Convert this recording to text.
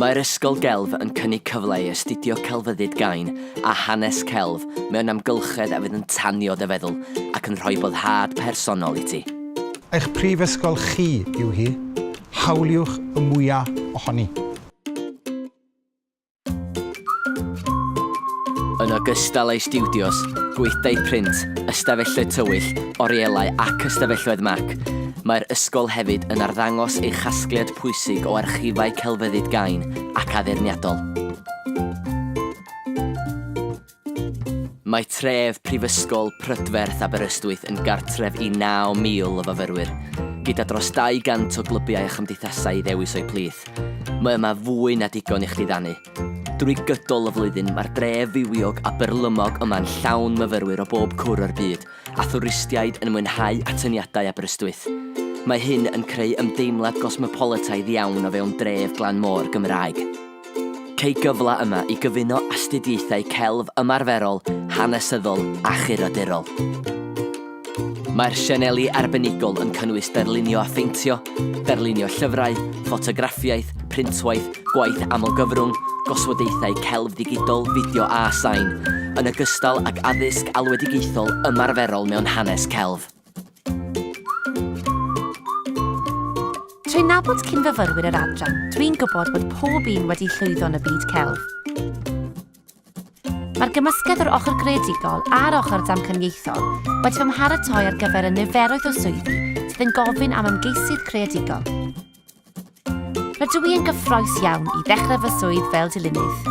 Mae'r Ysgol Gelf yn cynnig cyfle i astudio celfyddyd gain a hanes celf mewn amgylchedd a fydd yn tanio dy feddwl ac yn rhoi boddhad personol i ti. Eich prifysgol chi yw hi, hawliwch y mwya' ohoni. Yn ogystal â'i stiwdios, gweithdai print, ystafelloedd tywyll, orielau ac ystafelloedd Mac, mae'r Ysgol hefyd yn arddangos ei chasgliad pwysig o archifau celfyddyd gain ac addurniadol. Mae tref Prifysgol Prydferth Aberystwyth yn gartref i 9,000 o fyfyrwyr, gyda dros 200 o glybiau a chymdeithasau i ddewis o'u plith. Mae yma fwy na digon i chdi ddannu. Drwy gydol y flwyddyn mae'r dref fywiog a byrlymog yma'n llawn myfyrwyr o bob cwr o'r byd, a thwristiaid yn mwynhau atyniadau Aberystwyth. Mae hyn yn creu ymdeimlad gosmopoletaidd iawn o fewn dref glan môr Gymraeg. Cei gyfle yma i gyfuno astudiaethau celf ymarferol, hanesyddol a churadurol. Mae'r sianeli arbenigol yn cynnwys darlunio a pheintio, darlunio llyfrau, ffotograffiaeth, printwaith, gwaith amlgyfrwng, goswadaethau celf ddigidol, fideo a sain, yn ogystal ag addysg alwedigaethol ymarferol mewn hanes celf. Trwy nabod cyn-fyfyrwyr yr adran, dwi'n gwybod bod pob un wedi llwyddo yn y byd celf. Mae'r gymysgedd o'r ochr greadigol a'r ochr damcaniaethol wedi fy mharatoi ar gyfer y niferoedd o swyddi sydd yn gofyn am ymgeisydd creadigol. Rydw i yn gyffroes iawn i ddechrau fy swydd fel dilynydd.